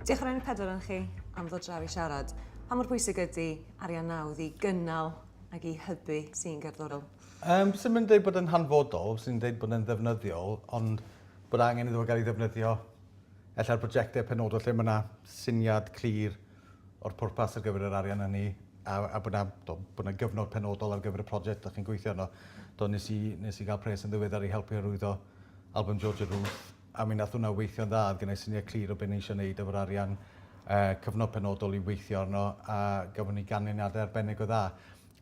Diolch yn enw pedwar yn chi am ddod draw i siarad. Pa mor bwysig ydy arian nawdd i gynnal ac i hybu sy'n gerddorol? Um, sy'n mynd dweud bod yn hanfodol, sy'n dweud bod yn ddefnyddiol, ond bod angen iddo gael ei ddefnyddio ella'r brosiectau penodol lle mae yna syniad clir o'r pwrpas ar gyfer yr arian hynny a a bod 'na do bod 'na gyfnod penodol ar gyfer y project dach chi'n gweithio arno. Do nes i nes i ga'l pres yn ddiweddar i helpu arwyddo album Georgia Ruth a mi nath hwnna weithio'n dda o'dd gennai syniad clir o be' o'n i isio neud efo'r arian yy cyfnod penodol i weithio arno a gafon ni ganlyniade arbennig o dda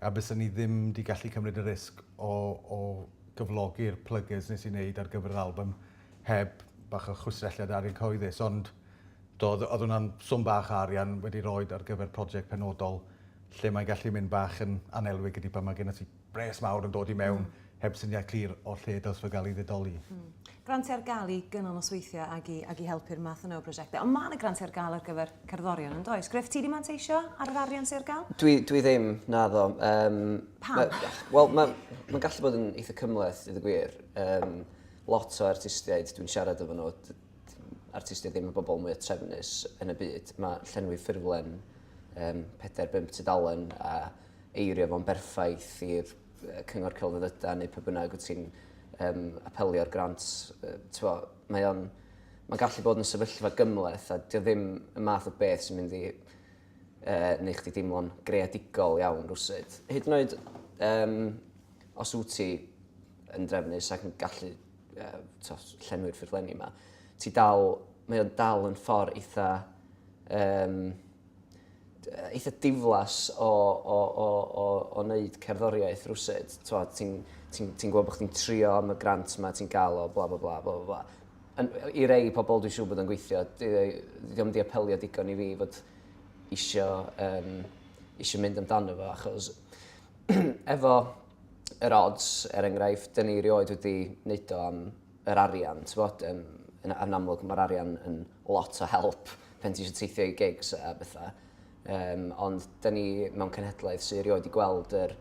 a bysen ni ddim 'di gallu cymryd y risg o o gyflogi'r plygys nes i neud ar gyfer yr album heb bach o chwistrelliad arian cyhoeddus, ond doedd, oedd hwnna'n swm bach o arian wedi roed ar gyfer prosiect penodol lle mae'n gallu mynd bach yn anelwig ydy pan mae gennym ti bres mawr yn dod i mewn mm. heb syniad clir o'r lle dylse fe gael ei ddidoli. Mm. Grantiau ar gael i gynnal nosweithiau ag i, ag i helpu'r math yna o brosiectau. Ond mae yna grantiau ar gael ar gyfer cerddorion yn does? Griff, ti wedi manteisio ar yr arian sy'n ar gael? Dwi, dwi ddim, na ddo. Um, Pam? Wel, mae'n ma gallu bod yn eitha cymleth, i ddweud gwir. Um, lot o artistiaid dwi'n siarad efo nhw, artistiaid ddim y bobl mwyaf trefnus yn y byd, mae llenwi ffurflen um, 4-5 tudalen a eirio fo'n berffaith i'r cyngor celfyddyda neu pe bynnag wyt ti'n um, apelio'r grant, uh, mae o'n mae gallu bod yn sefyllfa gymleth a dio ddim y math o beth sy'n mynd i uh, neu chdi deimlo'n greadigol iawn rwsyd. Hyd yn oed um, Os wyt ti yn drefnus ac yn gallu uh, llenwi'r ffurflenni yma, ti dal, mae o'n dal yn ffordd eitha, um, eitha diflas o, o, o, o, o wneud cerddoriaeth rwsyd. Ti'n ti, ti gwybod bod chdi'n trio am y grant yma, ti'n gael o, bla bla bla bla bla. I rei pobl dwi'n siŵr bod o'n gweithio, ddim di apelio digon i fi fod eisiau, um, eisiau mynd amdano fo, achos efo yr odds, er enghraifft, dyn ni rioed wedi wneud o am yr arian, ti'n bod, yn, yn, yn amlwg mae'r arian yn lot o help pen ti eisiau teithio i gigs a bethau. Um, ond dyn ni mewn cenhedlaeth sy'n rioed wedi gweld yr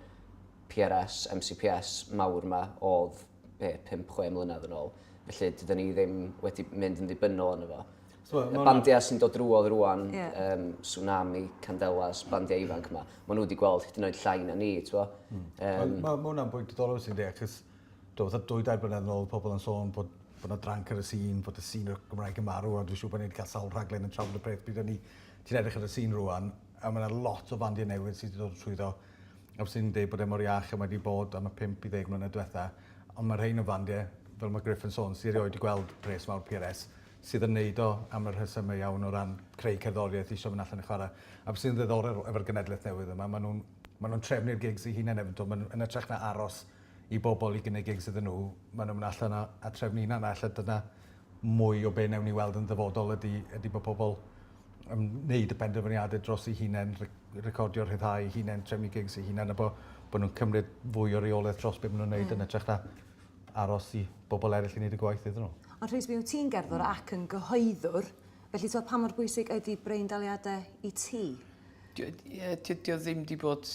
PRS, MCPS mawr yma oedd be, 5-6 mlynedd yn ôl. Felly, dydyn ni ddim wedi mynd yn ddibynnol arno fo. So, y bandiau sy'n dod drwodd rwan, yeah. um, Tsunami, Candelas, bandiau ifanc yma, maen nhw wedi gweld hyd yn oed llai na ni, ti'n fo? Mm. Um, mae ma hwnna'n bwynt diddorol sy'n dweud, achos do, fatha dwy dair blynedd yn ôl, pobl yn sôn bod bod yna dranc ar y sîn, bod y sîn o'r Gymraeg yn marw, a dwi'n siŵr bod ni'n cael sawl rhaglen yn trafod y peth. Bydd ni, ti'n edrych ar y sîn rwan, a mae yna lot o fandiau newydd sydd wedi dod trwyddo. a fyswn i'n deud bod e mor iach a mae 'di bod am y pump i ddeg mlynedd diwetha'. Ond ma' rhein o fandie, fel ma' Griff yn sôn, sy erioed 'di gweld pres mawr PRS, sydd yn neud o am y rhesyme iawn o ran creu cerddoriaeth, isio myn' allan a chwara'. A be' sydd yn ddiddorol efo'r genedleth newydd yma, ma' nw'n ma' nw'n trefnu'r gigs 'u hunen efyd 'to. Ma' nw, yn ytrach na aros i bobol i gynnig gigs iddyn nhw, ma' nw'n myn' allan a a trefnu 'u hunan a elle dyna mwy o be' newn ni weld yn ddyfodol ydi ydi bo' pobol yn neud y penderfyniade dros eu hunen, re- recordio rhyddhau eu hunen, trefnu gigs eu hunen a bo' bo' nw'n cymryd fwy o reolaeth dros be' ma' nw'n neud... Hmm. ...yn ytrach na aros i bobol eryll i neud y gwaith iddyn n'w. Ond Rhys mi wyt ti'n gerddwr ac yn gyhoeddwr felly t'wod pa mor bwysig ydi breindaliade i ti? Dio ie dy- dio ddim 'di bod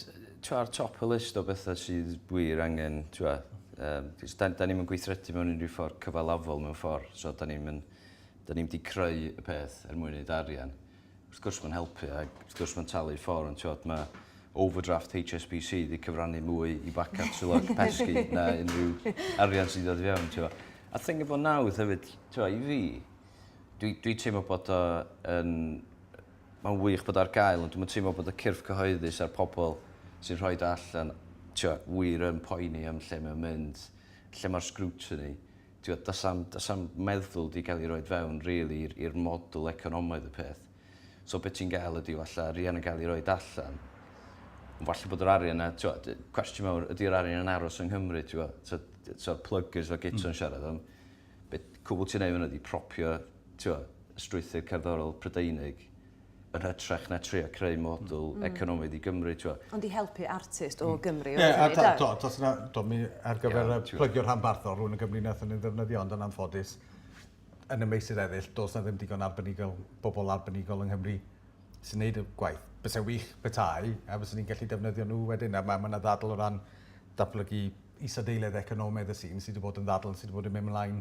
t'wo' ar top y list o betha sydd wir angen t'wo' yym 'c'os 'dan 'dan ni'm yn gweithredu mewn unryw ffor cyfalafol mewn ffor so 'dan ni'm yn Dan ni'm di creu y peth er mwyn neud arian. Wrth gwrs ma'n helpu ag wrth gwrs ma'n talu ffor ond t'wod ma' overdraft HSBC di cyfrannu mwy i bacad Swyddog Pesgi na unrhyw arian sy'n dod i fewn t'wo'. A thing efo nawdd hefyd t'wo' i fi dwi dwi teimlo bod o yn ma'n wych bod o ar gael ond dwi'm yn teimlo bod y cyrff cyhoeddus a'r pobol sy'n rhoid o allan t'wo' wir yn poeni am lle mae o'n mynd lle ma'r scrutiny T'wod, does 'na'm, does 'na'm meddwl 'di gael ei roid fewn rili i'r i'r model economaidd y peth. So be' ti'n gael ydi falle arian yn gael ei roid allan, ond falle bod yr arian 'na, t'wod, cwestiwn mawr, ydi'r arian yn aros yng Nghymru, t'wod? So, so'r pluggers fel Guto yn siarad, ond be' cwbl ti'n neud fan 'na ydi propio, t'wod, y strwythur cerddorol Prydeinig yn hytrach na trio creu model mm. economaidd i Gymru, ti'n gwybod. Ond i helpu artist o mm. Gymru. Ie, a da, do, dos yna, do, mi ar gyfer yeah, y plygio rhanbarthol, rhywun yn Gymru nath yn ei ddefnyddio, ond yn anffodus, yn y meysydd eraill, dos na ddim digon arbenigol, bobl arbenigol yng Nghymru sy'n neud y gwaith. Bysa wych petai, a bysa ni'n gallu defnyddio nhw wedyn, a mae yna ddadl o ran datblygu isadeiledd economaidd y sy'n sydd wedi bod yn ddadl sydd wedi bod yn mynd ymlaen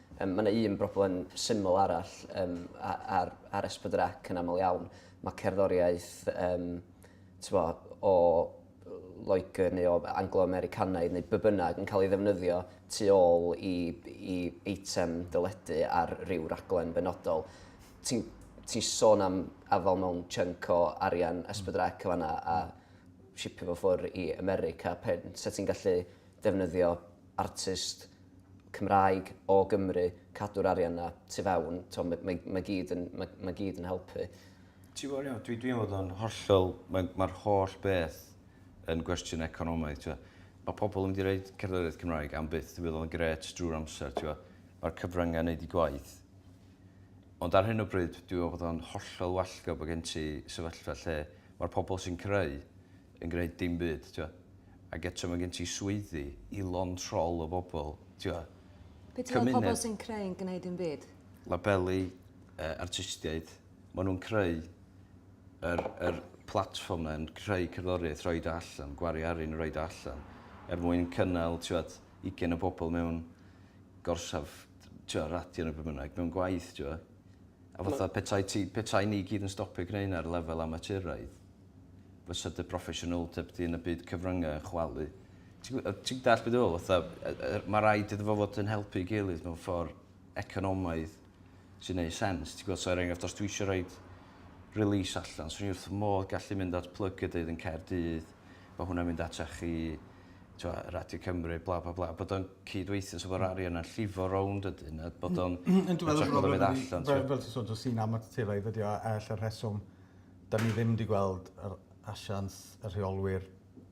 Yym, mae yna un broblem syml arall yym, a- ar, ar S4C yn aml iawn. Mae cerddoriaeth yym, tyfo, o Loegr neu o Anglo-Americanaidd neu be bynnag yn cael ei ddefnyddio tu ôl i, i eitem deledu ar ryw raglen benodol. Ti'n ti sôn am afael mewn chunk o arian S4C o fanna a shipio fo ffwrdd i America. Pe, se ti'n gallu defnyddio artist Cymraeg o Gymru cadw'r arian 'na tu fewn, t'o' ma' ma' ma' gyd yn ma' ma' gyd yn helpu. Ti'n gwbod Iwan dwi dwi'n fod yn hollol mae ma'r holl beth yn gwestiwn economaidd t'wo'. Ma' pobol yn mynd i roid cerddoriaeth Cymraeg am byth fe fydd o'n grêt drwy'r amser t'wo'. Ma'r cyfrynge yn neud 'u gwaith. Ond ar hyn o bryd dwi me'wl bod o'n hollol wallgo' bo' gen ti sefyllfa lle ma'r pobol sy'n creu yn gneud dim byd t'wo'. Ag eto ma' gen ti swyddi i lond rhol o bobol t'wo'... Be' ti'n meddwl pobol sy'n creu'n gneud dim byd? Labelu yy artistiaid. Ma' nw'n creu yr yr platfform 'na yn creu cerddoriaeth rhoid o allan gwario arian yn roid o allan er mwyn cynnal t'wod ugain o bobol mewn gorsaf t'wo' radio ne' be' bynnag mewn gwaith t'wo'. A fatha petai ti petai ni gyd yn stopio gneu' 'na ar lefel amaturaidd fysa dy broffesiynoldeb di yn y byd cyfryngau yn chwalu. Ti'n ti dall beth dwi'n feddwl? Mae rhaid iddo fo fod yn helpu i gilydd mewn ffordd economaidd sy'n neud sens. Ti'n gwybod, so er enghraifft, os dwi eisiau rhoi release allan, swn i wrth modd gallu mynd at plyg y dydd yn Caerdydd, bod hwnna'n mynd at chi, twa, Radio Cymru, bla bla bla, bod o'n cyd-weithio, so bod rari yna llifo rownd ydyn, a bod o'n... Yn dwi'n meddwl bod o'n mynd allan. Fel ti'n sôn, sy'n amateraidd ydi o, a lle rheswm 'da ni ddim 'di gweld yr asiant y rheolwyr,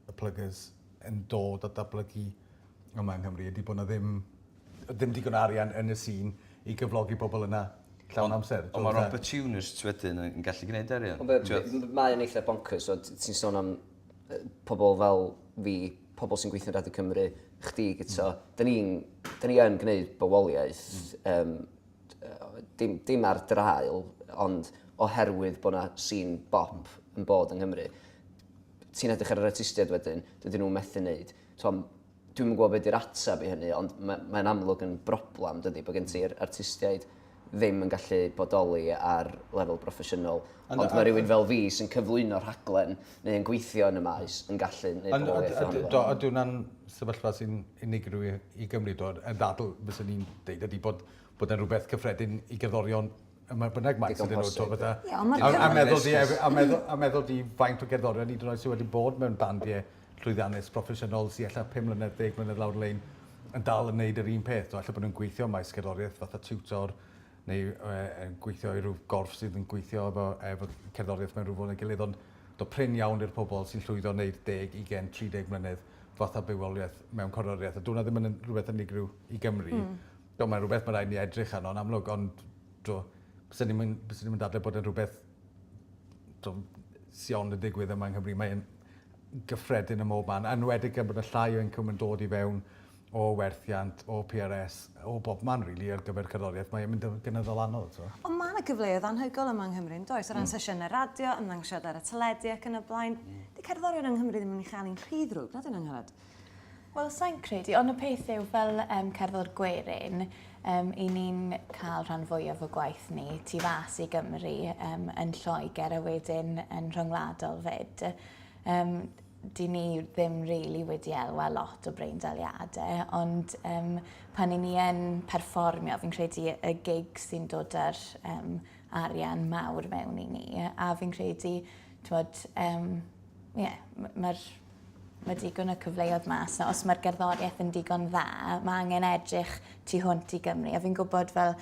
y pluggers, yn dod a datblygu yma yng Nghymru ydi bo' 'na ddim yy dim digon o arian yn y sîn i gyflogi pobol yna llawn amser. Ond ma'r opportunists wedyn yn gallu gneud arian. Ond be' be' m- mae o'n eitha bonkers t'od t- ti'n sôn am yy pobol fel fi, pobol sy'n gweithio yn Radio Cymru, chdi gito, 'da ni'n 'da ni yn gneud bywoliaeth yym dim, dim ar draul, ond oherwydd bod yna sîn bop yn bod yng Nghymru, ti'n edrych ar yr artistiaid wedyn, dydyn nhw'n methu wneud. Dwi'n yn gwybod beth yw'r ateb i hynny, ond mae'n mae amlwg yn broblem, dydy, bod gen ti'r artistiaid ddim yn gallu bodoli ar lefel broffesiynol. Ond, ond mae rhywun fel fi sy'n cyflwyno rhaglen neu yn gweithio yn y maes yn gallu gwneud pobl weithio ohono fo. Do, ydy hwnna'n sefyllfa sy'n unigryw i Gymru, do. Y ddadl fyswn i'n deud ydy bod bod e'n rhywbeth cyffredin i gerddorion y mae bynnag maes ydyn nhw. Digon posib, ie. A meddwl di, a meddwl di faint o gerddorion hyd yn oed sydd wedi bod mewn bandiau llwyddiannus, proffesiynol, sy ella 5 mlynedd, 10 mlynedd lawr y lein yn dal yn gwneud yr un peth, do. Ella bod nhw'n gweithio ym maes gerddoriaeth fatha tiwtor, neu yn gweithio i rhyw gorff sydd yn gweithio efo, efo cerddoriaeth mewn rhyw ffordd neu gilydd, ond do prin iawn i'r pobl sy'n llwyddo wneud deg, ugen, tri deg mlynedd fatha bywoliaeth mewn cerddoriaeth, a dwna ddim yn rhywbeth unigryw i Gymru. Mm. Do, mae'n rhywbeth mae rhaid ni edrych arno, yn amlwg, ond do, byswn i'n byswn i'n dadle bod yn rhywbeth do, sion yn digwydd yma yng Nghymru. Mae'n gyffredin ym mhob man, anwedig gan bod y llai o incwm yn dod i fewn o werthiant, o PRS, o bob man rili ar gyfer cerddoriaeth, mae e'n mynd yn gynyddol anodd, t'mo'. Ond ma' 'na gyfleoedd anhygoel yma yng Nghymru yndoes? O ran sesiyne radio, ymddangosiadau ar y teledu ac yn y blaen. 'Di cerddorion yng Nghymru ddim yn mynd i chael un rhy ddrwg, na 'dyn Angharad? Wel, sai'n credu, ond y peth yw fel yym cerddor gwerin yym 'yn ni'n ca'l rhan fwyaf o gwaith ni tu fas i Gymru yym yn Lloegr a wedyn yn rhyngwladol 'fyd. Yym. dyn ni ddim really wedi elwa lot o breindaliadau, ond um, pan i ni yn perfformio, fi'n credu y gig sy'n dod â'r um, arian mawr mewn i ni, a fi'n credu, twod, um, yeah, mae'r mae digon o cyfleoedd mas na. Os mae'r gerddoriaeth yn digon dda, mae angen edrych tu hwnt i Gymru. A fi'n gwybod fel,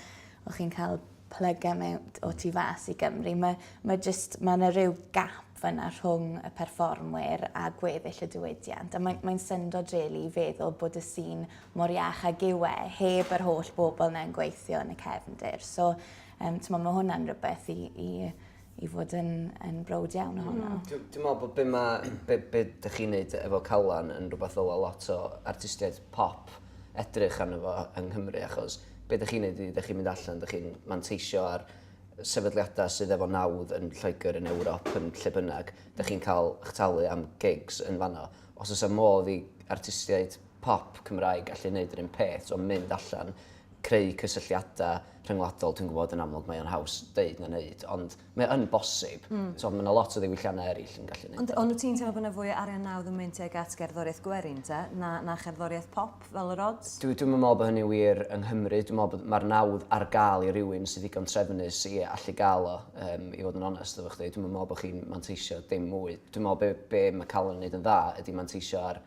o'ch chi'n cael plygau mewn o tu fas i Gymru. Mae, mae just, mae yna rhyw gap fyna rhwng y perfformwyr a gweddill y diwydiant, a mae'n mae'n syndod rili i feddwl bod y sîn mor iach ag yw e, heb yr holl bobl 'na'n gweithio yn y cefndir. So um, t'mo' ma' hwnna'n rhywbeth i i i fod yn yn browd iawn ohono. Mm. Dwi dwi me'wl bod be' ma' be' be' 'dych chi'n neud efo Calan yn rhywbeth ddyla lot o artistiaid pop edrych arno fo yng Nghymru achos be' 'dych chi'n neud ydi 'dych chi'n mynd allan 'dych chi'n manteisio ar sefydliadau sydd efo nawdd yn Lloegr, yn Ewrop, yn lle bynnag, dych chi'n cael eich talu am gigs yn fanno. Os oes am modd i artistiaid pop Cymraeg allu wneud yr un peth, so mynd allan, creu cysylltiadau rhyngwladol, dwi'n gwybod yn amlwg mae o'n haws deud na wneud, ond mae yn bosib. Mm. So, mae yna lot o ddiwylliannau eraill yn gallu wneud. Ond, ond ti'n teimlo bod yna fwy o arian nawdd yn mynd tuag at gerddoriaeth gwerin, te, na, na cherddoriaeth pop? fel yr odds? Dwi dwi'm yn me'wl bo hynny'n wir yng Nghymru. Dwi me'wl bod ma'r nawdd ar ga'l i rywun sy ddigon trefnus i allu ga'l o yym i fod yn onest efo chdi. Dwi'm yn me'wl bo chi'n manteisio dim mwy. Dwi me'wl be' be' ma' Callum yn neud yn dda ydi manteisio ar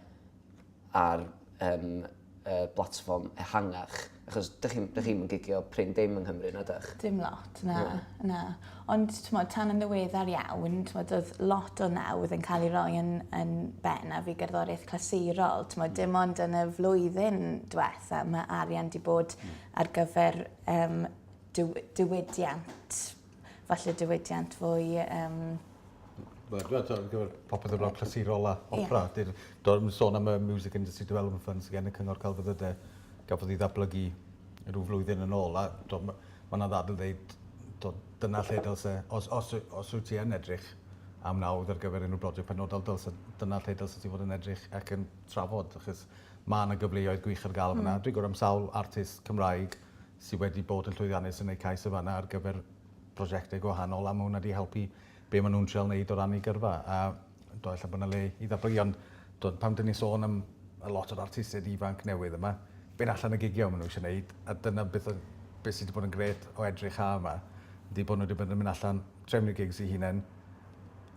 ar yym yy blatfform ehangach achos dych chi'm dych chi'm yn gigio prin dim yng Nghymru na dych? Dim lot na. Na. Na. Ond t'mod tan yn ddiweddar iawn t'mod o'dd lot o nawdd yn cael ei roi yn yn bennaf i gerddoriaeth clasurol t'mod dim ond yn y flwyddyn dwetha ma' arian 'di bod hmm. ar gyfer yym diw- diwydiant falle diwydiant fwy yym Wel, dwi'n meddwl, ar gyfer popeth o'r blaen clasurol a opera, yeah. dwi'n sôn am y Music Industry Development Fund sydd gen y Cyngor Celfyddydau, gafodd ei ddatblygu rhyw flwyddyn yn ôl, a dwi'n Mae yna ddadl dweud tibod dyna lle dylse, os, os, os wyt ti yn edrych am nawdd ar gyfer unrhyw broject penodol, dylse, dyna lle dylse ti fod yn edrych ac yn trafod, achos mae yna gyfleoedd gwych ar gael fanna. Mm. Dwi'n gwrdd am sawl artist Cymraeg sydd wedi bod yn llwyddiannus yn eu cais y fanna ar gyfer prosiectau gwahanol, a mae hwnna wedi helpu be' ma' nw'n trial neud o ran 'u gyrfa a t'o' ella bo' 'na le i ddatblygu ond t'od pan 'dyn ni sôn am y lot o'r artistied ifanc newydd yma be' allan y gigio ma' n'w isio neud a dyna beth o- be' sy 'di bod yn grêt o edrych ha' 'ma ydi bo' n'w 'di bod yn myn' allan trefnu eu gigs 'u hunen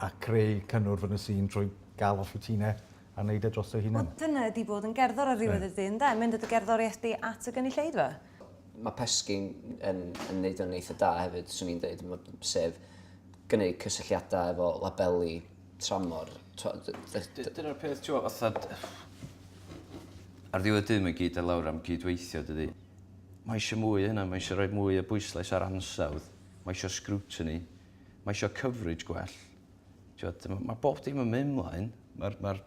a creu cynnwrf yn y sîn trwy ga'l off 'u tine a neud e drosto'u hunan. Wel dyna ydi bod yn gerddor ar ddiwedd y dydd ynde? Mynd â dy gerddorieth di at y gynulleidfa. Mae Pesci'n yn, yn neud o'n eitha da hefyd, swn i'n dweud, sef gwneud cysylltiadau efo labeli tramor. Dyna'r peth, ti'n fatha... Ar ddiwedd dim yn gyd ar lawr am gydweithio, dydy. Mae eisiau mwy hynna, mae eisiau rhoi mwy o bwyslais ar ansawdd, mae eisiau scrutiny, mae eisiau coverage gwell. Mae bob dim yn mynd mlaen, mae'r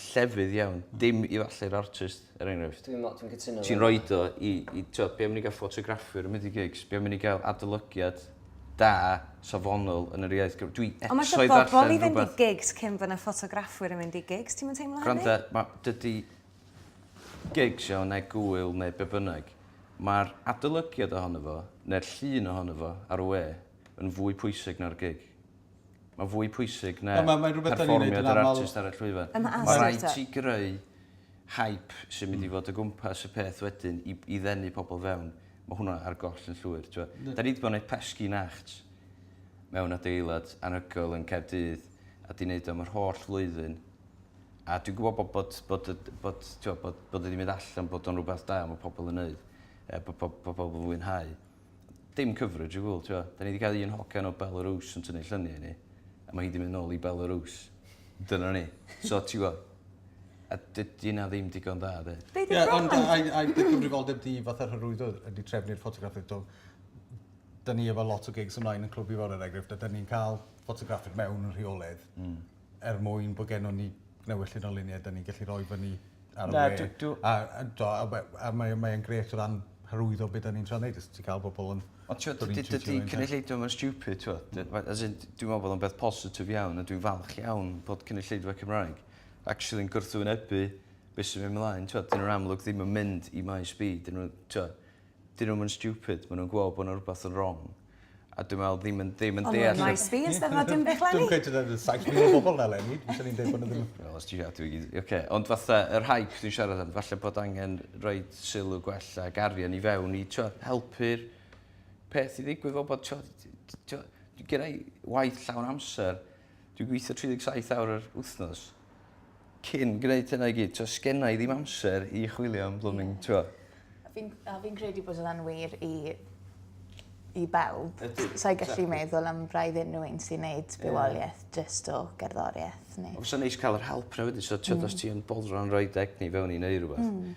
llefydd iawn. Dim i ddathlu'r artist, er enghraifft. Dwi'n meddwl, dwi'n cytuno efo hynna. Ti'n rhoid o i, i t'wod, be' am i ni gael ffotograffwyr yn mynd i gigs? Be' am i ni gael adolygiad da, safonol yn yr iaith Gymraeg? Dwi Ond ma' eisiau eto ddarllen bobl i fynd i rhywbeth. gigs cyn fod 'na ffotograffwyr yn mynd i gigs. Ti'm yn teimlo hynny? Gwranda, ma', dydy gigs, iawn, neu gŵyl neu be' bynnag, ma'r adolygiad ohono fo, neu'r llun ohono fo ar y we, yn fwy pwysig na'r gig. Mae'n fwy pwysig na perfformiad yr artist ar y llwyfan. Mae'n rhaid ti greu hype sy'n mynd i fod o gwmpas y peth wedyn i ddenu pobl fewn. Mae hwnna ar goll yn llwyr. Da ni 'di bod yn gwneud pesgi nacht mewn adeilad anhygoel yn Caerdydd a 'di wneud o am yr holl flwyddyn. A dwi'n gwybod bod bod bod bod bod o 'di mynd allan, bod o'n rhywbeth da, mae pobl yn wneud, bod pobl yn fwynhau. dim coverage o gwbl, ti'n gwbod. Da ni 'di cael un hogan o Belarus yn tynnu lluniau i ni, a mae hi 'di mynd nôl i Belarus. Dyna ni. So, ti'n gwbod, a dydy yna ddim digon da, de. Be' 'di problem? Ond ai, ai dy gyfrifoldeb di fatha'r hyrwyddo ydy trefnu'r ffotograffydd dwg? Da ni efo lot o gigs ymlaen yn Clwb Ifor, er enghraifft, a da ni'n cael ffotograffydd mewn yn rheolaidd. Mm. er mwyn bod gennym ni newyllyn o luniau da ni'n gallu rhoi fyny ar y we. Do, a, a, do, a, a mae'n mae gret o ran hyrwyddo beth da ni'n tra'n neud, ti'n cael bobl yn... Ond ti'n meddwl, dydy cynulleidfa mae'n stupid, ti'n meddwl. As in, dwi'n meddwl bod o'n beth positif iawn, a dwi'n falch iawn bod cynulleidfa Cymraeg actually yn gwrthwynebu beth sy'n mynd mlaen, ti'n meddwl, dyn nhw'n amlwg ddim yn mynd i maes B, dyn nhw'n, ti'n meddwl, 'dyn nhw'm yn stupid ma' nw'n gweld bo' 'na rwbath yn rong a dwi me'wl ddim yn ddim yn deall... Ond ma'n nice beans 'Steddfod dim byd 'leni. Dwi'm yn credu nad odd saith mil o bobol 'na eleni dwi isio ni deud bo' 'na ddim... Wel os ti adwy gei di oce ond fatha yr hype dwi'n siarad am falle bod angen roid sylw gwell ag arian i fewn i t'wo' helpu'r peth i ddigwydd fel bod t'wo' t- t- t'wo' gennai waith llawn amser Dwi'n gweithio 37 awr yr wythnos cyn gwneud hynna i gyd. T'o' sgenna i ddim amser i chwilio am blooming t'wo'. A fi'n a fi'n credu bod hwnna'n wir i i bawb. Ydi. Sa i gallu meddwl am braidd unrhyw un sy'n neud bywolieth jyst o gerddorieth neu... Ond fysa'n neis ca'l yr help 'na wedyn so t'od os ti yn boddran roid egni fewn i neu rwbath. Hmm.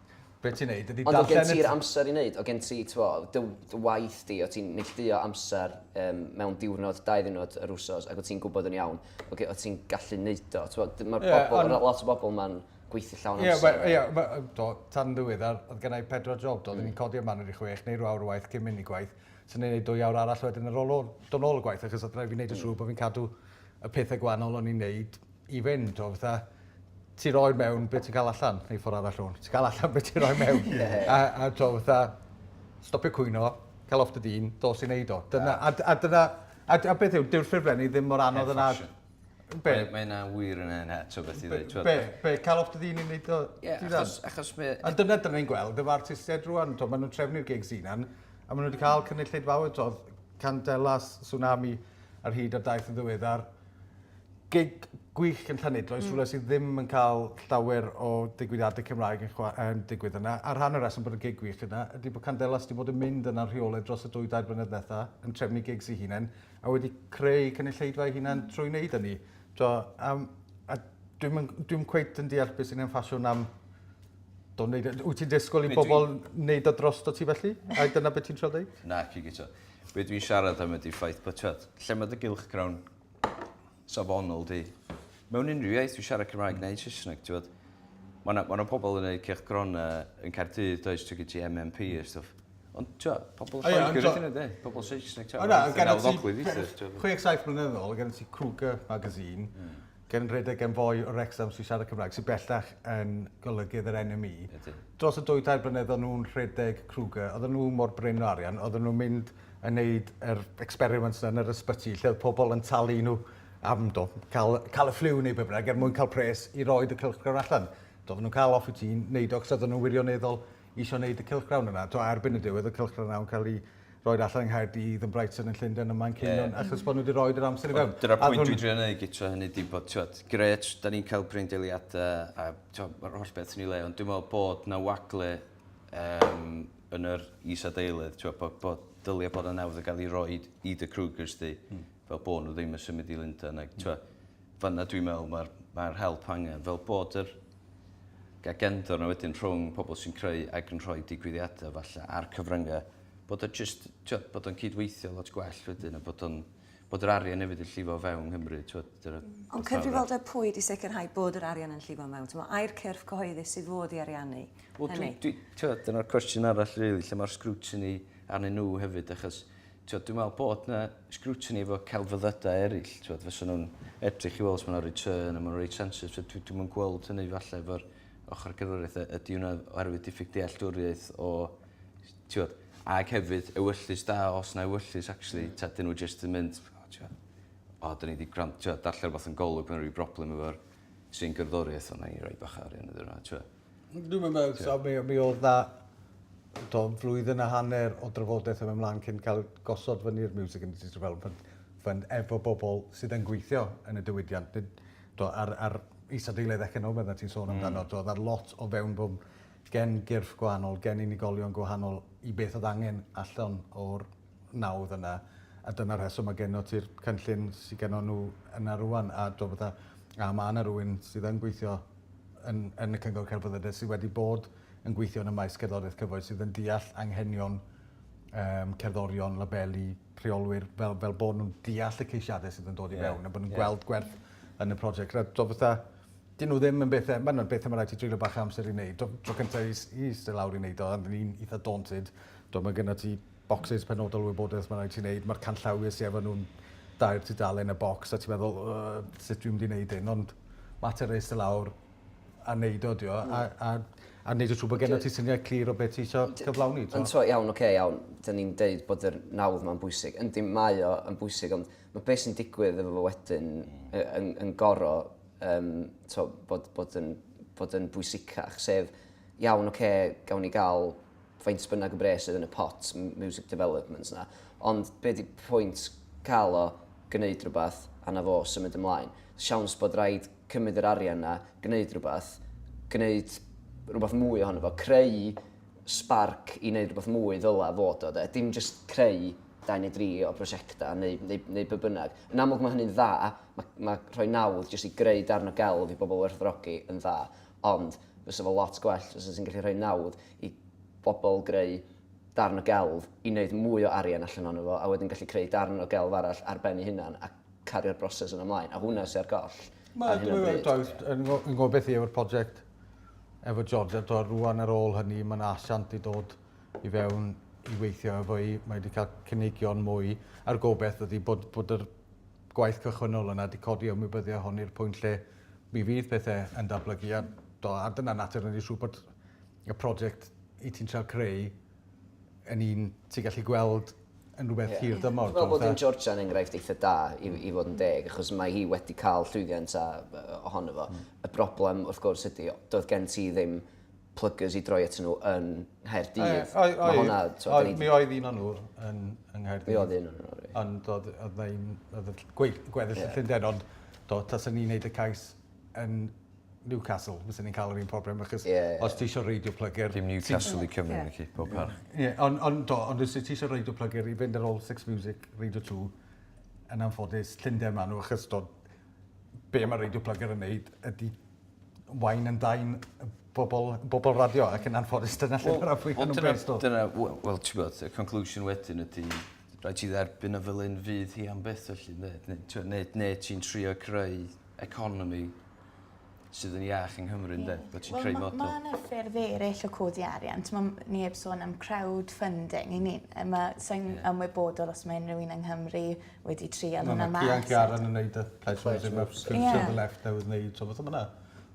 Be ti'n neud ydi darllen... Ond o' gen ti'r amser i neud? O' gen ti t'mo' dy dy waith di o' ti'n neillduo amser yym mewn diwrnod dau ddiwrnod yr wsos ac o' ti'n gwbod yn iawn o' ge- o' ti'n gallu neud o t'mo' d- ma'r bobol... Ie on'... ...ma' lot o bobol ma'n gweithio llawn amser. Ie we- ie we- yy do tan ddiweddar o'dd gennai pedwar job do? O'n i'n codi am hanner i chwech neu ryw awr o waith cyn myn' i gwaith so o'n i'n neud dwy awr arall wedyn ar ôl o do nôl o gwaith achos o'dd rhai' fi neud yn siŵr bo' fi'n cadw y pethe gwanol o'n i'n neud i fynd o fatha ti roi mewn beth ti'n cael allan, neu ffordd arall o'n. Ti'n cael allan beth ti'n rhoi mewn. yeah. A, a to, fatha, stopio cwyno, cael off dy dyn, dos i wneud o. Dyna, a, a, dyna, a, a beth yw, dyw'r ffurflenni ddim mor anodd yna. Be? Mae yna wir yn yna, to beth i ddweud. Be, be, cael off dy dyn i wneud o. Yeah, achos, achos me... A dyna dyna ni'n gweld, dyma artistiaid rwan, to, maen nhw'n trefnu'r gigs unan, a maen nhw wedi cael cynulleid fawr, to, Candelas, Tsunami, ar hyd a daith yn ddiweddar, Gig gwych yn Llanidloes... Hmm. ...rhywle sydd ddim yn cael llawer o digwyddiadau Cymraeg yn chwa- yn digwydd yna. A rhan o'r reswm bod y gig gwych yna ydy bod Candelas 'di bod yn mynd yna'n rheolaidd dros y dwy dair blynedd ddetha, yn trefnu gigs ei hunen, a wedi creu cynulleidfa ei hunan hmm. trwy wneud hynny. T'o', yym, a dwi'm yn dwi'm cweit yn deall beth sy'n hen ffasiwn am do wneud... Wyt ti'n disgwyl i bobl wneud o drosto ti felly? A dyna beth ti'n trio ddeud? Na, pigio 'to. Be dwi'n siarad am ydy ffaith bytad. Lle mae dy gylchgrawn safonol di? Mewn unrhyw iaith, dwi'n siarad Cymraeg neu Saesneg, ti'n bod? Mae yna, mae yna pobl yn gwneud cylchgronau yn Caerdydd, does, ti'n gyda MMP a stwff. Ond, ti'n bod, pobl yn Lloegr ydyn nhw, de? Pobl Saesneg, ti'n bod? O na, gan ti 67 mlynedd ôl, gan ti Cougar magazine, Gen redeg yn fwy o Wrexham sy'n siarad Cymraeg, sy'n bellach yn golygydd yr NME. Dros y dwy tair blynedd o'n nhw'n rhedeg Kruger, oedden nhw mor brin o arian, oedden nhw'n mynd yn neud yr experiments yn yr ysbyty lle oedd pobl yn talu nhw am do, cael, cael y ffliw neu be bynnag er mwyn cael pres i roed y cylchgrawn allan. Do, oedden nhw'n cael off i ti'n neud o, cos oedden nhw'n wirioneddol eisiau neud y cylchgrawn yna. Do, erbyn y diwedd y cylchgrawn yna'n cael ei roed allan yng Nghaerdydd, yn Brighton, yn Llundain, ym Manceinion, achos bod nhw wedi roed yr amser i fewn. Dyna'r pwynt dwi'n trio neud gytro hynny ydi bod, ti'mod, gret, da ni'n cael breindeiliadau a, ti'mod, mae'r holl beth yn ei le, ond dwi'n meddwl bod 'na wagle um, yn yr is-adeilydd, ti'mod, bod, bod dylia bod 'na nawdd yn cael ei roed i dy Krugers di, hmm. fel bod nhw ddim yn symud i Lundain ag t'wo' fanna dwi'n meddwl ma'r ma'r help angen fel bod yr agenda 'na wedyn rhwng pobl sy'n creu ag yn rhoi digwyddiadau falle a'r cyfryngau bod o jyst t'wo' bod o'n cydweithio lot gwell wedyn a bod o'n bod yr arian hefyd yn llifo o fewn Nghymru t'wo' dyna... Ond cyfrifoldeb pwy i sicrhau bod yr arian yn llifo mewn t'mo' ai'r cyrff cyhoeddus sydd fod i ariannu hynny? Wel dwi dwi t'wo' dyna'r cwestiwn arall rili lle mae'r scrutiny arnyn nhw hefyd achos T'wod, dwi'n meddwl bod 'na scrutiny efo celfyddydau eraill, t'wod, fysan nhw'n edrych i weld os ma' 'na return a ma' nhw'n reit sensitif. So dwi dwi'm yn gweld hynny falle efo'r ochr gerddoriaeth. Y- Ydy hwnna oherwydd diffyg dealltwriaeth o s- t'wod? Ag hefyd ewyllys da, os 'na ewyllys actually, ta 'dyn nhw jyst yn mynd, O t'wod, o 'dan ni 'di gwran- t'wod darllen rwbath yn Golwg ma' 'na ryw broblem efo'r trin gerddoriaeth, wel 'nai roi bach o arian iddyn nhw a t'wo'. Dwi'm yn meddwl so mi mi o'dd 'na t'o' flwyddyn a hanner o drafodaeth yn myn' mlan cyn ca'l gosod fyny'r Music Industry Development Fund efo bobol sydd yn gweithio yn y diwydiant nid t'o' a'r a'r isadeiledd economaidd 'na ti'n sôn amdano. Hmm. T'o' o'dd 'na lot o fewnbwn gen gyrff gwahanol gen unigolion gwahanol i beth o'dd angen allan o'r nawdd yna a dyna rheswm ma' genno ti'r cynllun sy gennon n'w yna rŵan a t'wo' fatha a ma' 'na rywun sydd yn gweithio yn yn y Cyngor Celfyddydau sy wedi bod yn gweithio yn y maes cerddoriaeth cyfoes sydd yn deall anghenion yym cerddorion, labeli, rheolwyr fel fel bo' nw'n deall y ceisiade sydd yn dod i fewn a bo' nw'n gweld gwerth yn y project a t'wo' fatha 'dyn nhw ddim yn bethe ma' nw'n bethe ma' raid ti treulio bach o amser i neud. Tro tro cynta i i iste lawr i neud o a o'n i'n itha daunted t'wo' ma' gynno ti bocsys penodol o wybodaeth mae'n rhaid ti wneud, mae'r canllawiau sy efo nhw'n dair tudalen a bocs a ti'n meddwl yy sut dwi'n mynd i wneud hyn ond mater o iste lawr a wneud o ydi o a, a, a wneud yn siŵr bod gennych ti syniad clir o beth ti eisiau cyflawni. Yn to, iawn, oce, iawn, dyn ni'n deud bod yr nawdd ma'n bwysig. Yndi, mae o yn bwysig, ond mae beth sy'n digwydd efo fo wedyn yn, yn goro um, to, bod, bod, yn, bod yn bwysicach, sef, iawn, oce, gawn ni gael faint bynnag o bres oedd yn y pot, music development yna. Ond be di pwynt cael o, gwneud rhywbeth, a na fo symud ymlaen. Siawns bod rhaid cymryd yr arian yna, gwneud rhywbeth, gwneud rhywbeth mwy ohono fo, creu sparc i wneud rhywbeth mwy ddyla fod o, de. Dim just creu dau neu dri o prosiectau neu, neu, neu be bynnag. Yn amlwg mae hynny'n dda, mae, mae rhoi nawdd jyst i greu darn o gelf i bobl werthfawrogi yn dda. Ond fysa fo lot gwell fysa ti'n gallu rhoi nawdd i bobl greu darn o gelf i wneud mwy o arian allan ohono fo a wedyn gallu creu darn o gelf arall ar ben ei hunan a cario'r broses yna mlaen. A hwnna sy ar goll ar hyn o bryd. Dwi'n gwybod beth yw yr project efo George a tibod rŵan ar ôl hynny mae 'na asiant i dod i fewn i weithio efo hi. Mae 'di cael cynigion mwy a'r gobaith ydi bod bod yr gwaith cychwynnol yna 'di codi a ymwybyddio hon i'r pwynt lle Mi fydd pethe yn datblygu a do a dyna natur ydi siŵr bod y project i ti'n trial creu yn un ti'n gallu gweld yn rhywbeth yeah. hir dymor. Dwi'n meddwl bod yn Georgia yn enghraifft eitha da i, i fod yn deg, achos mae hi wedi cael llwyddiant a, ohono fo. Mm. Y broblem, wrth gwrs, ydy, doedd gen ti ddim pluggers i droi atyn nhw yn Nghaerdydd. Mae hwnna... Mi oedd un o'n nhw yn Nghaerdydd. Mi oedd un o'n nhw. Ond oedd yna gweddill y Llundain, ond do, tas ni'n neud y cais yn Newcastle, fyswn ni'n cael yr un problem, achos os ti eisiau reidio plygr... Dim Newcastle i Cymru, na ci, pob parch. Ie, ond do, ond os ti eisiau reidio plygr i fynd ar ôl Six Music, reidio two, yn anffodus, Llundain maen nhw, achos do, be mae reidio plygr yn neud ydy wine and dine bobl, bobl radio ac yn anffodus dyna lle mae'r afwy hwnnw'n based o. Dyna, wel, well, ti'n bod, y conclusion wedyn ydy, rhaid ti dderbyn y fel un fydd hi am beth felly, ne, ne, ne, ne, ne ti'n trio creu economi sydd yn iach yng Nghymru, ynddo? Bod ti'n creu model. Mae yna ffyrdd eraill o codi arian. Mae neb sôn am crowdfunding. I ni, mae sy'n yeah. ymwybodol os mae unrhyw un yng Nghymru wedi trial hwnna mas. Mae Ciaran yn neud y Pledge Music Rep Scripture Ie. ...the Left There with Meids a petha ma' 'na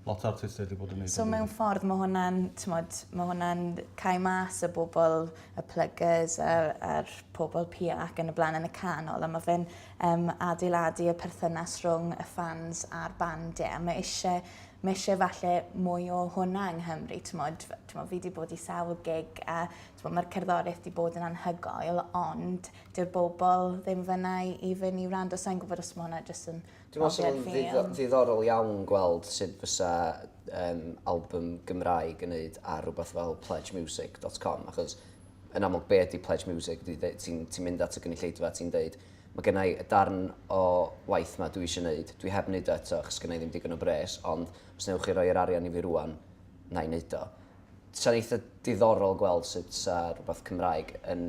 lot o artistiaid 'di bod yn neud... So mewn ffordd ma' hwnna'n t'mod ma' hwnna'n cau mas y bobol y pluggers a a'r pobol pia ac yn y bla'n yn y canol a ma' fe'n yym adeiladu y perthynas rhwng y ffans a'r band ie a ma' eisie ma' eisie falle mwy o hwnna yng Nghymru t'mod f- t'mo' fi 'di bod i sawl gig a t'mo' ma'r cerddorieth 'di bod yn anhygoel ond Dyw'r bobl ddim fyna i fyn i wrando, sa'n gwybod os mae hwnna jyst yn... Dwi'n meddwl sy'n ddidd ddiddorol iawn gweld sut fysa um, album Gymraeg yn neud ar rhywbeth fel pledgemusic.com, achos yn amlwg be ydy pledge music, ti'n ti, ti mynd at y gynulleidfa, ti'n deud, mae gennau y darn o waith ma dwi eisiau gwneud, dwi heb wneud o eto, achos gennau ddim digon o bres, ond os newch chi roi'r arian i fi rwan, na i wneud o. Sa'n eitha diddorol gweld sut sa rhywbeth Cymraeg yn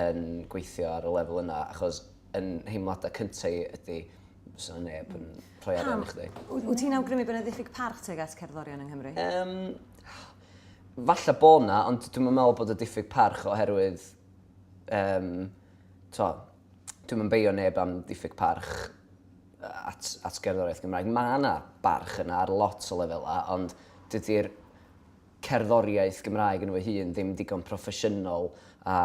yn gweithio ar y lefel yna, achos yn nheimladau cyntaf i ydy, fysa yna neb yn rhoi arian i chdi. Wyt ti'n awgrymu bod yna ddiffyg parch tuag at cerddorion yng Nghymru? Um, falle bod yna, ond dwi'n meddwl bod y diffyg parch oherwydd... Um, to, dwi'n mynd beio neb am diffyg parch at, at gerddoriaeth Gymraeg. Mae yna barch yna ar lot o lefelau, ond dydy'r cerddoriaeth Gymraeg yno fy hun ddim digon proffesiynol a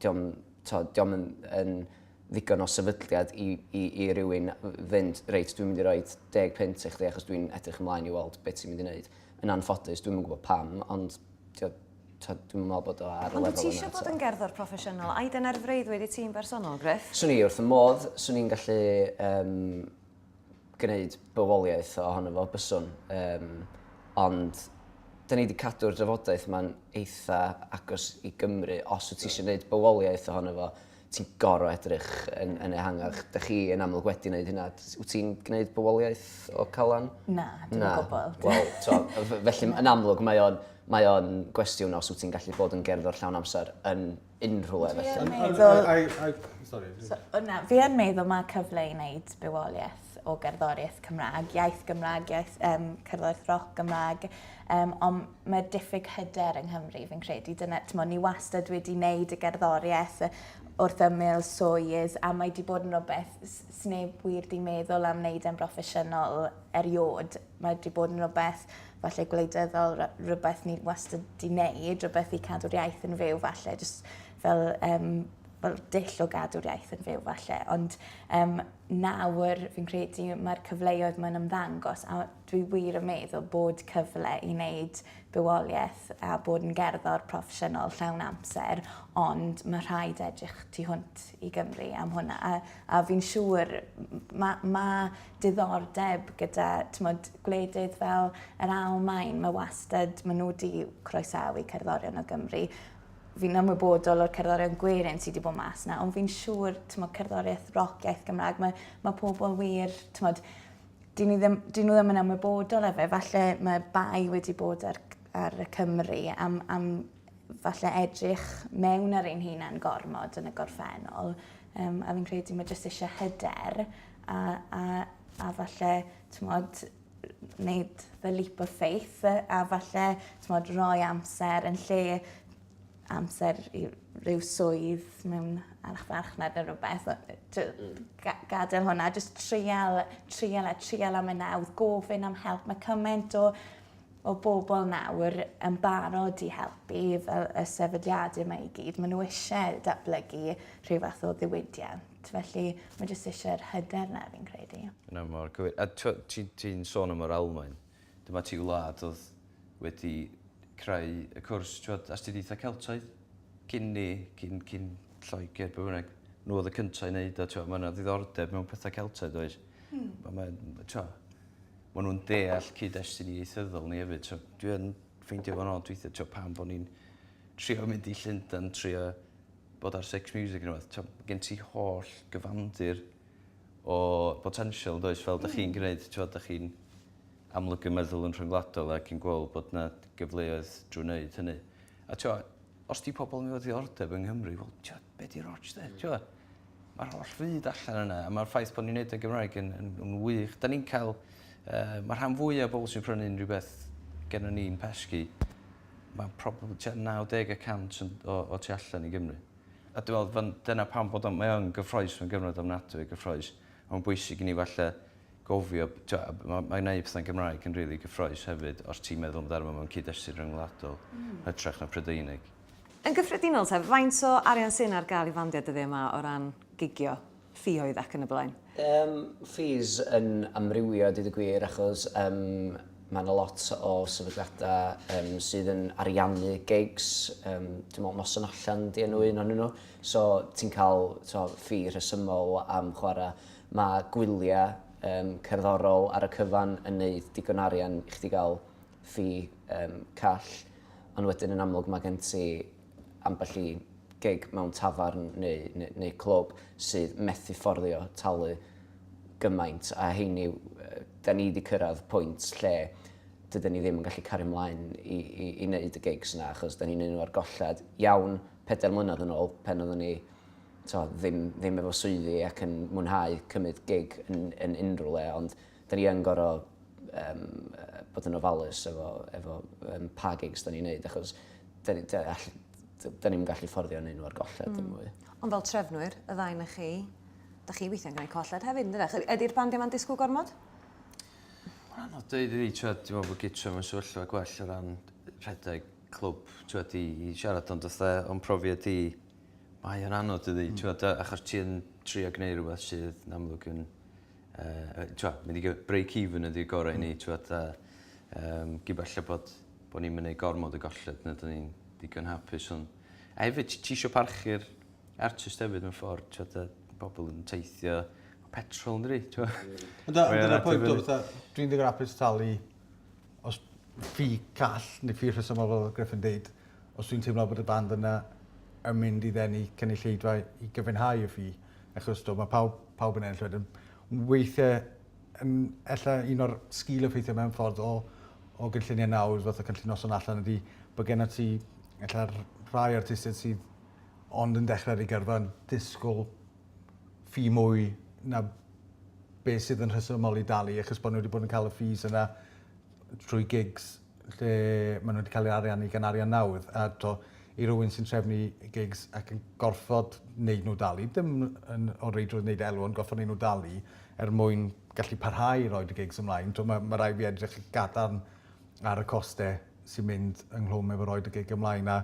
dio'm t'od dio'm yn yn ddigon o sefydliad i i i rywun fynd reit dwi'n mynd i roid deg punt i chdi achos dwi'n edrych ymlaen i weld be' ti'n mynd i neud. Yn anffodus dwi'm yn gwbod pam ond t'od t'od dwi'm yn me'wl bod o ar y lefel yna eto. Ond wt ti isio bod yn gerddor proffesiynol? Ai dyna'r freuddwyd i ti'n bersonol Gruff? Swn i wrth fy modd. Swn i'n gallu yym gwneud bywoliaeth ohono fo, byswn. Yym, ond 'dyn ni 'di cadw'r drafodaeth 'ma'n eitha agos i Gymru. Os wyt ti eisiau gwneud bywoliaeth ohono fo, ti'n gorfod edrych yn, yn ehangach. Dych chi yn amlwg wedi gwneud hynna. Wyt ti'n gwneud bywoliaeth o Calan? Na, dim o gwbl. Wel, to, felly yn amlwg mae o'n mae o'n gwestiwn os wyt ti'n gallu bod yn gerddor llawn amser yn unrhyw le felly. Yn meddwl... I, I, I, sorry. So, na, fi yn meddwl mae cyfle i wneud bywoliaeth o gerddoriaeth Cymraeg, iaith Gymraeg, iaith um, cerddoriaeth roc Gymraeg, um, ond mae diffyg hyder yng Nghymru, fi'n credu. Dyna, tymo, ni wastad wedi wneud y gerddoriaeth wrth ymyl swydd, a mae wedi bod yn rhywbeth sneb wir di meddwl am wneud e'n broffesiynol eriod Mae wedi bod yn rhywbeth falle gwleidyddol, rhywbeth ni wastad di wneud, rhywbeth i cadw'r iaith yn fyw falle, jyst fel, um, fel dill o gadw'r iaith yn fyw falle. Ond um, nawr fi'n credu mae'r cyfleoedd mae'n ymddangos a dwi wir yn meddwl bod cyfle i wneud bywoliaeth a bod yn gerddor proffesiynol llawn amser, ond mae rhaid edrych tu hwnt i Gymru am hwnna. A, a fi'n siŵr, mae ma diddordeb gyda tmod, gwledydd fel yr Almaen, mae wastad, maen nhw wedi croesawu cerddorion o Gymru. Fi'n ymwybodol o'r cerddorion gwerin sydd wedi bod mas na, ond fi'n siŵr, tmod, cerddoriaeth roc iaith Gymraeg, mae, mae pobl wir, tmod, dyn nhw ddim, dyn nhw ddim yn ymwybodol efe, falle mae bai wedi bod ar, ar y Cymru am, am falle edrych mewn ar ein hunain gormod yn y gorffennol. Um, a fi'n credu mae jyst eisiau hyder a, a, a falle, tmod, wneud the leap of faith, a falle, tmod, roi amser yn lle amser i rhyw swydd mewn archfarchnad neu rhywbeth. Mm. Gadael hwnna, jyst trial, trial a trial am y nawdd, gofyn am help. Mae cymaint o, o bobl nawr yn barod i helpu fel y sefydliadau yma i gyd. Maen nhw eisiau datblygu rhyw fath o ddiwydiant. Felly, mae jyst eisiau'r hyder na, fi'n credu. Na, mor gywir. A ti'n sôn am yr Almaen. Dyma ti wlad oedd wedi creu y cwrs, ti'n astudiaethau Celtaidd, cyn ni, cyn, cyn Lloegr, be bynnag. Nhw oedd y cyntaf i wneud o, ti'n Mae yna ddiddordeb mewn pethau Celtaidd, oes? Hmm. Mae, mae, ti'n Mae nhw'n deall cyd-destun i ieithyddol ni hefyd. So, dwi'n ffeindio fo'n od weithiau, ti'n pam bod ni'n trio mynd i Llundain, trio bod ar Six Music neu rhywbeth, t'o' gen ti holl gyfandir o botensial yndoes fel 'dach chi'n gneud t'wod 'dach chi'n amlygu meddwl yn rhyngwladol ac yn gweld bod 'na gyfleoedd drwy wneud hynny. A t'wo' os 'di pobol yn efo ddiddordeb yng Nghymru wel t'wo' be' 'di ots 'de t'wo'? Ma'r holl fyd allan yna a ma'r ffaith bo' ni'n neud e Gymraeg yn yn yn wych. 'Dan ni'n ca'l yy ma' rhan fwya o bobol sy'n prynu'n rwbeth gennon ni'n pesgi Mae probably tua 90 y cant yn o o tu allan i Gymru. A dwi'n meddwl fan- dyna pam bod o'n... mae o yn gyffrous, mae'n gyfnod ofnadwy o gyffrous. A mae'n bwysig i ni falle gofio, tibod, a ma' mae gwneud pethau'n Gymraeg yn rili gyffrous hefyd os ti'n meddwl amdano mewn cyd-destun ryngwladol, hytrach na Prydeinig. Yn gyffredinol te, faint o arian sy'n ar gael i fandiau dyddiau 'ma o ran gigio? ffioedd ac yn y blaen. Yym fees yn amrywio deud y gwir achos yym mae yna lot o sefydliadau um, sydd yn ariannu gigs, um, dwi'n meddwl noson allan di enw un o'n nhw, so ti'n cael so, ffi rhesymol am chwarae. Mae gwyliau um, cerddorol ar y cyfan yn neud digon arian i chdi gael ffi um, call, ond wedyn yn amlwg mae gen ti ambell i gig mewn tafarn neu, neu, neu clwb sydd methu fforddio talu gymaint a heini, da ni wedi cyrraedd pwynt lle dydyn ni ddim yn gallu cario ymlaen i, i, i wneud y gigs yna achos da ni'n un o'r golled iawn pedair mlynedd yn ôl pen oeddwn ni to, ddim, ddim efo swyddi ac yn mwynhau cymryd gig yn, yn unrhyw le ond Da ni yn gorfod um, bod yn ofalus efo, efo um, pa gigs da ni'n neud, achos da ni'n da, da ni gallu fforddio yn un o'r golled mm. yn mwy. Ond fel trefnwyr, y ddau na chi, da chi weithiau'n gwneud colled hefyd, yn dydych? Ydy'r band yma'n disgwyl gormod? Mae'n anodd dweud i ni, ti'n meddwl bod gytra mewn sefyllfa gwell o ran rhedeg clwb, ti'n meddwl, i siarad ond oedd o'n profiad i, mae o'n anodd i ddi, mm. ti'n meddwl, achos ti'n trio gwneud rhywbeth sydd yn amlwg yn Uh, Tywed, mynd i break even ydy'r gorau i ni, hmm. tywed, a um, gybella bod, bod ni'n mynd gormod y golled, na dyn ni'n digon hapus. Ond, a hefyd, ti eisiau parchu'r artist hefyd mewn ffordd, tywed, pobl yn teithio, petrol yn dri, ti'n Ond dyna pwynt o fatha, dwi'n ddigon apus talu os ffi call neu ffi rhesymol fel Griffin dweud, os dwi'n teimlo bod y band yna yn mynd i ddenu cynulleidfa i gyfynhau y ffi, Achos do, mae pawb, pawb yn ennill wedyn. Weithiau, yn, ella un o'r sgil o ffeithio mewn ffordd o, o gynlluniau nawr, fath o cynllun noson allan ydy, bod gen ti, ella rhai artistiaid sydd ond yn dechrau ar ei gyrfa yn disgwyl ffi mwy na beth sydd yn rhesymol i dalu, achos bod nhw wedi bod yn cael y ffis yna trwy gigs lle ma' n'w 'di ca'l eu ariannu gan arian nawdd a t'o' i rywun sy'n trefnu gigs ac yn gorffod neud n'w dalu dim yn o reidrwydd neud elw ond gorffod neud n'w dalu er mwyn gallu parhau i roid y gigs ymlaen t'o' ma' ma' rai' fi edrych yn gadarn ar y coste sy'n mynd ynghlwm efo roid y gig ymlaen a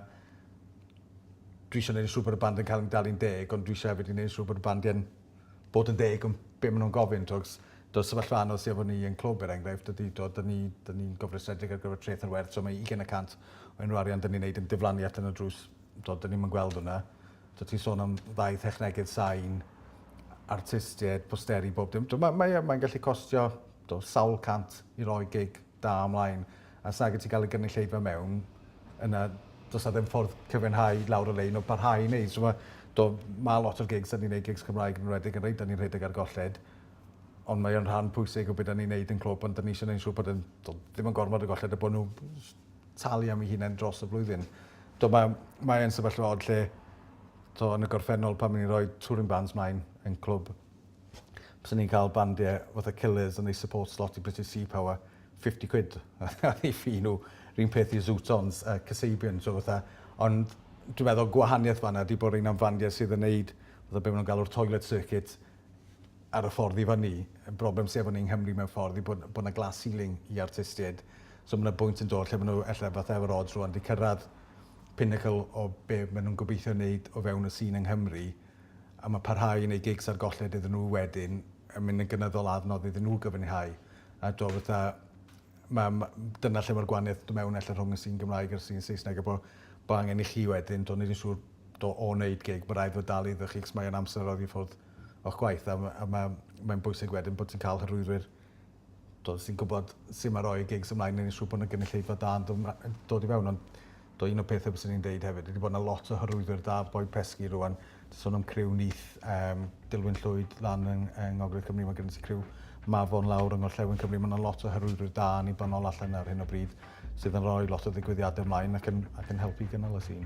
dwi isio neud yn siŵr bod y band yn ca'l 'i dalu'n deg ond dwi isio efyd i neud yn siŵr bod y bandia'n bod yn deg ond be maen nhw'n gofyn, twg, do'r sefyllfa anodd sydd efo ni yn Clwb er enghraifft ydy, do, dyn ni, dyn ni'n gofrestredig ar gyfer treth yn werth, so mae 20 y cant o unrhyw arian dyn ni'n neud yn diflannu allan y drws, do, dyn ni'm yn gweld hwnna. Do, ti'n sôn am ddau thechnegydd sain, artistiaid, posteri, bob dim. Do, mae, mae, mae'n gallu costio do, sawl cant i roi gig da ymlaen a s'ag ti cael y gynulleidfa mewn yna does 'na ddim ffordd cyfiawnhau lawr y lein o barhau i wneud. So mae, do, mae lot o'r gigs, da ni'n gwneud gigs Cymraeg yn rhedeg yn rhaid, da ni'n rhedeg ar golled, ond mae o'n rhan pwysig o beth da ni'n gwneud yn clwb, ond da ni eisiau gwneud siŵr bod yn, do, ddim yn gormod o golled a bod nhw talu am ei hunain dros y flwyddyn. Do, mae, mae yn sefyllfa od lle, do, yn y gorffennol pan ni'n rhoi touring bands mlaen yn clwb, Bysen ni'n ca'l bandie fatha Killers yn neud support slot i British Sea Power fifty quid ar eu fee nhw. 'r un peth i Zutons a Kasabian so fatha ond dwi meddwl gwahanieth fan 'na ydi bo' rein am fandie sydd yn neud fatha be' ma' nw'n galw'r toilet circuit ar y ffordd i fyny. Y broblem sy efo ni yng Nghymru mewn ffordd yw bod bo' 'na glass ceiling i artistied so ma' 'na bwynt yn dod lle ma' n'w elle fatha efo'r odds rŵan 'di cyrradd pinnacle o be' ma' nw'n gobeithio neud o fewn y sîn yng Nghymru a mae parhau i wneud gigs ar golled iddyn nhw wedyn yn mynd yn gynyddol a adnodd iddyn nhw gyfynhau. A do, fatha, ma, ma, dyna lle mae'r gwahaniaeth do mewn ella rhwng y sîn Gymraeg a'r sîn Saesneg, a bod bo angen i chi wedyn, do, nid yn siŵr do, o wneud gig, mae rhaid fod dal iddo chi, cos mae o'n amser oddi ffwrdd o'ch gwaith, a, a mae, mae'n bwysig wedyn bod ti'n cael hyrwyddwyr does dim gwybod sut mae rhoi gigs ymlaen yn ei siŵr bod yna gynulleidfa da yn dod i fewn ond do un o'r pethau byswn i'n deud hefyd wedi bod yna lot o hyrwyddwyr da oedd boi pesgi rwan ti'n sôn am criw nith um, Dilwyn Llwyd lan yng, yng Ngogledd Cymru mae gen ti criw Mafon lawr yng Ngorllewin Cymru mae yna lot o hyrwyddwyr da yn ei banol allan ar hyn o bryd sydd yn rhoi lot o ddigwyddiadau ymlaen ac yn, ac yn helpu gynnal y sîn.